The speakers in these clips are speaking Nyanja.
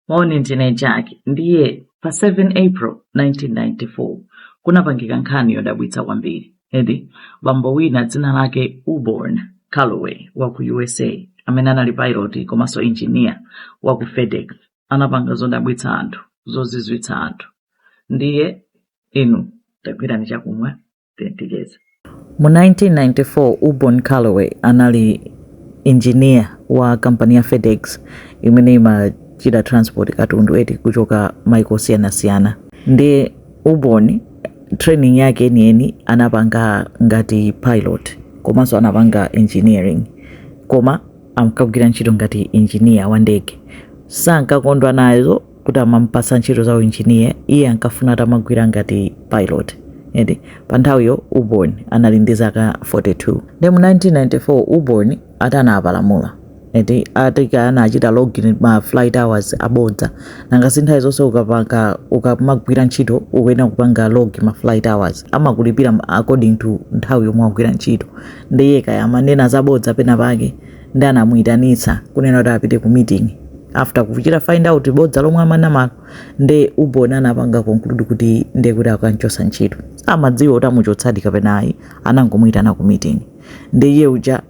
Morning ndine Jack ndiye pa 7 April 1994 kunapangika nkhani yodabwitsa kwambiri edi bambo wina dzina lake Auburn Calloway wa ku USA amene anali pilot komanso engineer wa ku FedEx anapanga zodabwitsa anthu zozizwitsa anthu ndiye inu tagwirani chakumwa tiyembekeze mu 1994 auburn calloway anali injiniya wa kampani ya fedex imene imachita transport katundu eti kuchoka maiko osiyanasiyana ndiye auburn training yake yeniyeni anapanga ngati pilot komanso anapanga engineering koma ankagwira ntchito ngati injiniya wa ndege sankakondwa nazo kuti amamupatsa ntchito za uinjiniya iye ankafuna atamagwira ngati pilot edi pa nthawiyo auburn anali ndi zaka 42 nde mu 1994 auburn atanapalamula eti akuti anachita log in ma flight hours abodza nanga si nthawi zonse ukapanga ukamagwira ntchito ukuyenera kupanga log ma flight hours amakulipira according to nthawi yomwe wagwira ntchito ndiye kaya amanena zabodza pena pake ndi anamuitanitsa kunena kuti apite ku meeting after kuchita find out bodza lomwe amanamalo nde auburn anapanga conclude kuti ndiye kuti akanchosa ntchito amadziwa kuti amuchotsadi kapena ayi anangomuitana ku meeting nde iye uja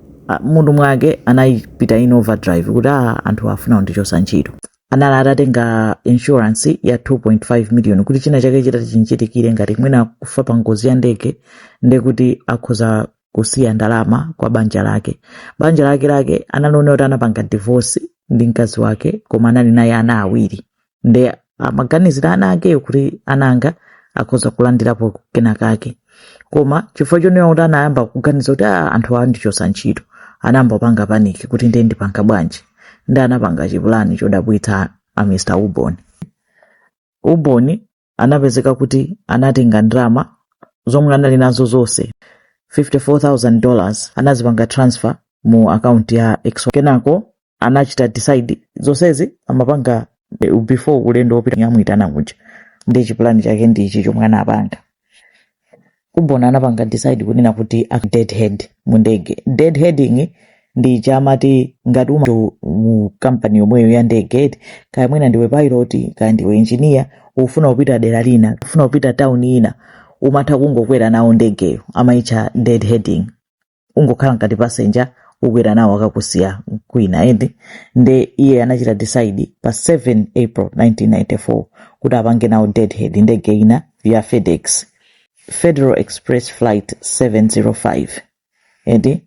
m'mutu mwake anapita in overdrive kuti a anthuwa afuna kundichosa ntchito anali atatenga insurance ya 2.5 million kuti china chake chitati chimchitikire ngati mwina kufa pa ngozi ya ndege ndekuti akhoza kusiya ndalama kwa banja lake banja lake lake anali oti anapanga divorce ndi mkazi wake koma anali naye ana awiri ndi amaganizira ana akeyo kuti ana anga akhoza kulandirapo kena kake koma chifukwa chonena kuti anayamba kuganiza kuti "Ah, anthuwa andichosa ntchito anayamba kupanga paniki kuti ndiye ndipanga bwanji ndi anapanga chipulani chodabwitsa a mr auburn auburn anapezeka kuti anatenga ndalama zomwe anali nazo zonse 54000 dollars anazipanga transfer mu akaunti ya ex wo kenako anachita decide zonsezi amapanga eh, before ulendo wopita komwe amuitana kuja ndi chipulani chake ndi ichi chomwe anapanga auburn anapanga decide kunena kuti a deadhead mu ndege deadheading ndi ija amati ngati uma mu kampani yomweyo ya ndege eti kaya mwina ndiwe pilot kaya ndiwe engineer ufuna kupita dera lina ufuna kupita town ina umatha kungokwera nawo ndegeyo amaitcha deadheading ungokhala ngati passenger ukwera nawo akakusiya kwina eti nde iye anachita decide pa 7 april 1994 kuti apange nawo deadhead ndege ina ya fedex federal express flight 705 eti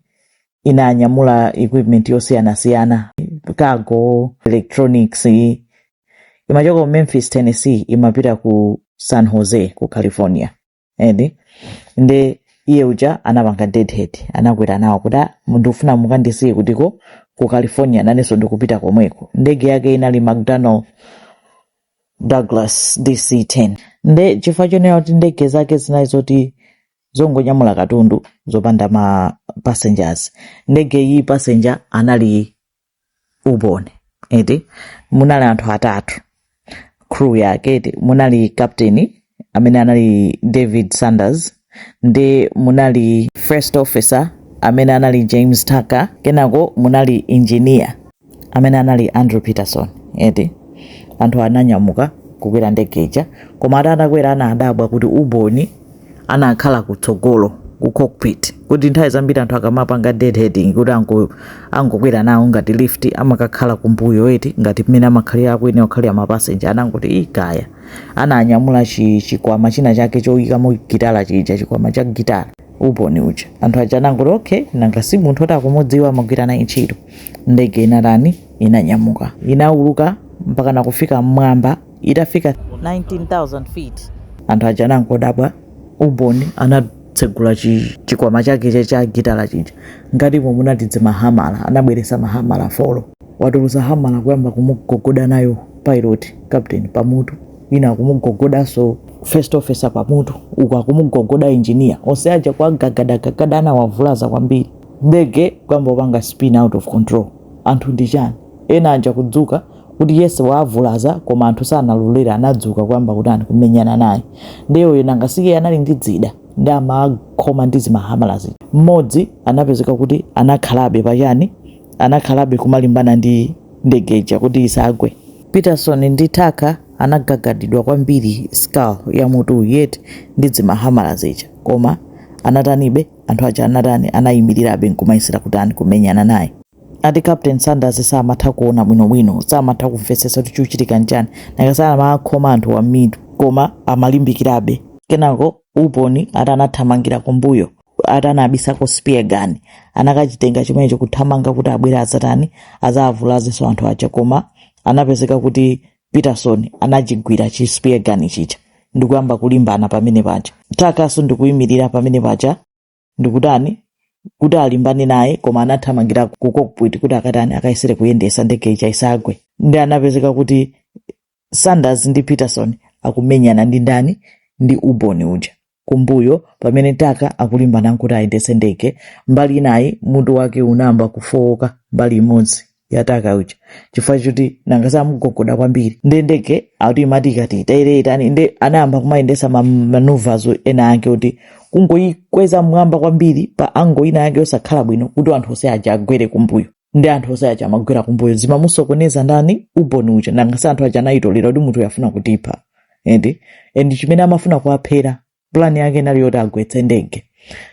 inanyamula equipment yosiyanasiyana cargo electronics imachoka memphis tennessee imapita ku san jose ku california eti nde iye uja anapanga deadhead anakwera nawo kuti "Ah, ndikufuna mukandisiye kutiko ku california nanenso ndikupita komweko ndege yake inali mcdonnell douglas dc10 nde chifukwa chonena kuti ndege zake zinali zoti zongonyamula katundu zopanda ma passengers ndege iyi passenger anali auburn eti munali anthu atatu crew yake eti munali captain amene anali david sanders ndi munali first officer amene anali james tucker kenako munali engineer amene anali andrew peterson eti anthu ananyamuka kukwera ndege ija koma ati atakwera ana adabwa kuti auburn anakhala kutsogolo ku cockpit kuti nthawi zambiri anthu akamapanga deadheading kuti ango angokwera nawo ngati lift amakakhala kumbuyo eti ngati mmene amakhalira akuyenera kukhalira mapasenja anangoti "Ih, kaya ananyamula chi- chikwama china chake choyikamo gitala chija chikwama cha gitala auburn uja anthu aja anangoti okay nanga si munthu oti akumudziwa amagwira naye ntchito ndege inatani inanyamuka inauluka mpaka nakufika mmwamba itafika 19,000 feet. anthu aja anangodabwa auburn anatsegula chi- chikwama chake cha- cha gitala chija ngati mmo munadzadza mahamala anabweresa mahamala folo watulusa hamala kuyamba kumugogoda nayo pilot captain pamutu ina akumugogodanso first officer pamutu uku akumugogoda engineer onse aja kwagagadagagada anawavulaza kwambiri ndege kuyamba kupanga spin out of control anthu ndi chani ena aja kudzuka kuti ayese waavulaza koma anthu sanalolera anadzuka kuyamba kutani kumenyana naye ndiye uyu nanga si iye anali ndi dzida ndi amakhoma ndi zimahamalazi mmodzi anapezeka kuti anakhalabe pachani anakhalabe kumalimbana ndi ndege ija kuti isagwe peterson ndi tucker anagagadidwa kwambiri skull ya mutuyi eti ndi zimahamala zija koma anatanibe anthu aja anatani anayimirirabe nkumayesera kutani kumenyana naye Ati Captain Sanders samatha kuona bwino bwino, samatha kumvetsetsa kuti chikuchitika nchani, nanga si amakhoma anthuwa mmitu koma amalimbikirabe. Kenako Auburn ati anathamangira kumbuyo ati anabisako spear gun, anakachitenga chimenecho kuthamanga kuti abwere adzatani, adzawavulazenso anthu aja koma anapezeka kuti Peterson anachigwira chi spear gun chija ndikuyamba kulimbana pamene paja. Tuckerso ndikuyimirira pamene paja ndikutani kuti alimbane naye koma anathamangira ku cockpit kuti akatani akayesere kuyendesa ndege ija isagwe ndi anapezeka kuti sanders ndi peterson akumenyana ndi ndani ndi auburn uja kumbuyo pamene tucker akulimbana nkuti ayendese ndege mbali inayi mutu wake unayamba kufowoka mbali imodzi ya tucker uja chifukwa choti nanga samugogoda kwambiri nde ndege akuti imati ikati itere itani nde anayamba kumayendesa ma- maneuvers ena ake kuti kungoyikweza m'mwamba kwambiri pa angle ina yake osakhala bwino kuti anthu onse aja agwere kumbuyo ndi anthu onse aja amagwera kumbuyo zimamusokoneza ndani auburn uja nanga sa anthu aja anayitolera kuti munthuyu afuna kutipha and chimene amafuna kuwaphera pulani yake inali yoti agwetse ndege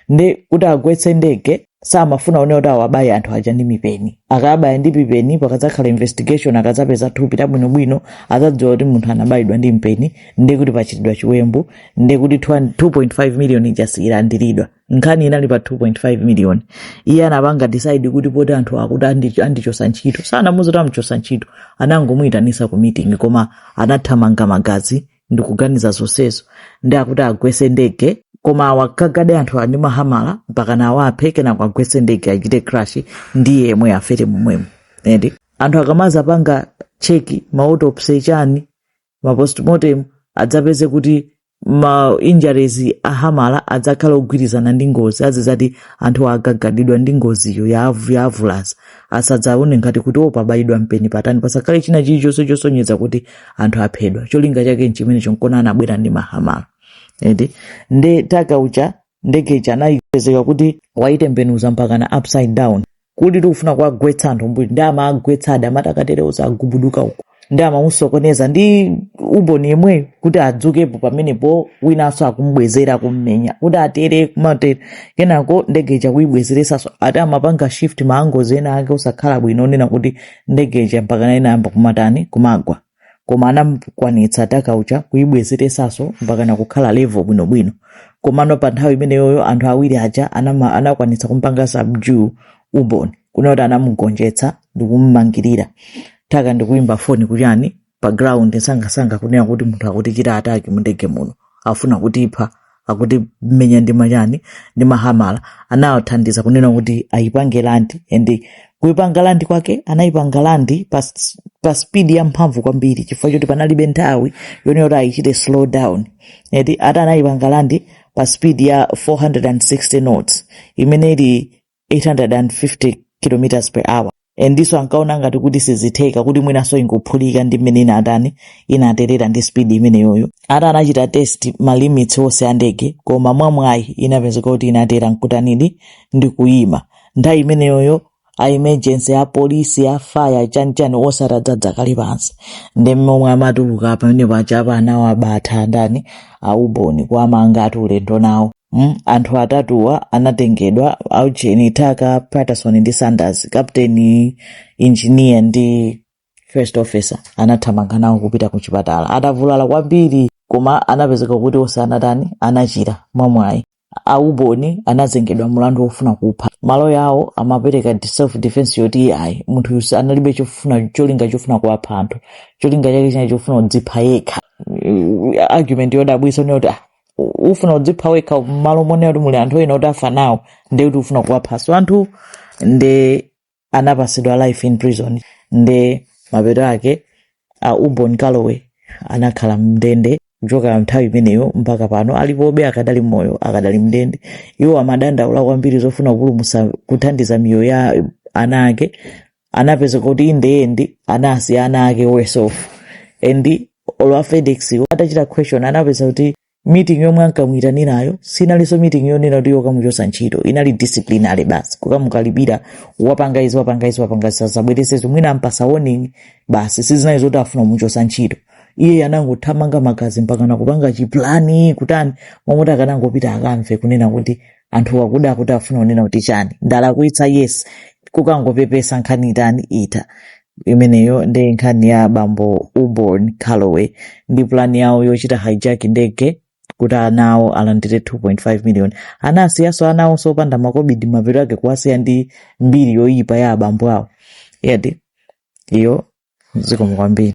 ndi kuti agwetse ndege samafuna zonena kuti awabaye anthu aja ndi mipeni akabaya ndi mipeni pakadzakhala investigation akadzapeza thupi labwinobwino adzadziwa kuti munthu anabayidwa ndi mpeni ndi kuti pachitidwa chiwembu ndi kuti 2.5 million ija siyilandiridwa nkhani inali pa 2.5 million iye anapanga decide kuti poti anthu akuti andi- andichosa ntchito sanamuuze kuti amuchosa ntchito anangomuyitanisa ku meeting koma anathamanga magazi ndikuganiza zonsezo ndi akuti agwese ndege koma awagagade anthu ndi mahamala mpakana awaphe kenako agwese ndege achite crash ndi iye yemwe afere momwemo eti anthu akamadzapanga check ma autopsy chani ma postmortem adzapeze kuti ma injuries a hamala adzakhala ogwirizana ndi ngozi azizati anthu agagadidwa ndi ngoziyo yawavulaza asadzaone ngati kuti o pabayidwa mpeni patani pasakhale china chilichonse chosonyeza kuti anthu aphedwa cholinga chake nchimenecho nkona anabwera ndi mahamala eti nde tucker uja ndege ija anapezeka kuti wayitembenuza mpakana upside down kuti tikufuna kuwagwetsa anthu m'mbuyo nde amawagwetsadi amati akatere onse agubuduka uko ndi amamusokoneza ndi auburn yemweyo kuti adzukepo pamenepo winanso akumubwezera kummenya kuti atere kumatere kenako ndege ija kuyibwezeresanso ati amapanga shift ma angles ena ake osakhala bwino onena kuti ndege ija mpakana inayamba kumatani kumagwa koma anamukwanitsa tucker uja kuyibwezeresanso mpakana kukhala level bwinobwino komano pa nthawi imeneyoyo anthu awiri aja anama- anakwanitsa kumpanga subdue auburn kunena kuti anamugonjetsa ndikumumangirira tucker ndikuimba foni ku chani pa ground sangasanga kunena kuti munthu akutichita attack mundege muno afuna kutipha akutimenya ndi machani ndi mahamala anawathandiza kunena kuti ayipange land and kuipanga land kwake anayipanga land pa, s- pa speed ya mphamvu kwambiri chifukwa choti panalibe nthawi yonena kuti ayichite slow down eti ati anayipanga land pa speed ya 460 knots imene ili 850 km per hour endiso ankaona ngati kuti sizitheka kuti mwinaso ingophulika ndi mmene inatani inaterera ndi speed imeneyoyo ati anachita test ma limits onse a ndege koma mwamwayi inapezeka kuti inatera nkutanidi ndi kuyima nthawi imeneyoyo a emergency a polisi a fire chanichani onse atadzadza kale pansi ndi momwe amatuluka pamene paja apa anawo abatha ndani a Auburn kuwamanga ati ulendo nawo Mm, anthu atatuwa anatengedwa aujeni Tucker Peterson ndi sanders captain engineer ndi first officer anathamanga nawo kupita ku chipatala atavulala kwambiri koma anapezeka kuti onse anatani anachira mwamwayi a Auburn anazengedwa mlandu wofuna kupha maloya awo amapereka di- self defense yoti ayi munthuyu si analibe chofuna cholinga chofuna kuwapha anthu cholinga chake chinali chofuna kudzipha yekha Eh, argument yodabwisa ndi yoti ah, u- ufuna kudzipha wekha mmalo monena kuti muli anthu ena kuti afa nawo nde kuti ufuna kuwaphaso anthu nde anapasidwa life in prison nde mapeto ake a Auburn calloway anakhala mndende kuchoka nthawi imeneyo mpaka pano alipobe akadali moyo akadali mndende iwo amadandaula kwambiri zofuna kupulumusa kuthandiza miyoyo ya ana ake anapezeka kuti in the end anasiya ana ake worse off and olo a fedex atachita question anapeza kuti meeting yomwe ankamuitanirayo sinalinso meeting yonena kuti yokamuchosa ntchito inali disciplinary basi kukamukalipira wapanga izi wapanga izi wapanga izi usazabwerezeso mwina ampasa warning basi sizinali zoti afuna kumuchosa ntchito iye anangothamanga magazi mpaka nakupanga chiplani kutani momwe akanangopita akamve kunena kuti anthu akudawa kuti afuna kunena kuti chani ndalakwitsa yes kukangopepesa nkhani itani itha imeneyo nde nkhani ya abambo Auburn calloway ndi pulani yawo yochita hijack ndege kuti ana awo alandire 2.5 million anasiyaso ana awo osapanda makobidi mapeto ake kuwasiya ndi mbiri yoyipa ya abambo awo yadi iyo zikomo kwambiri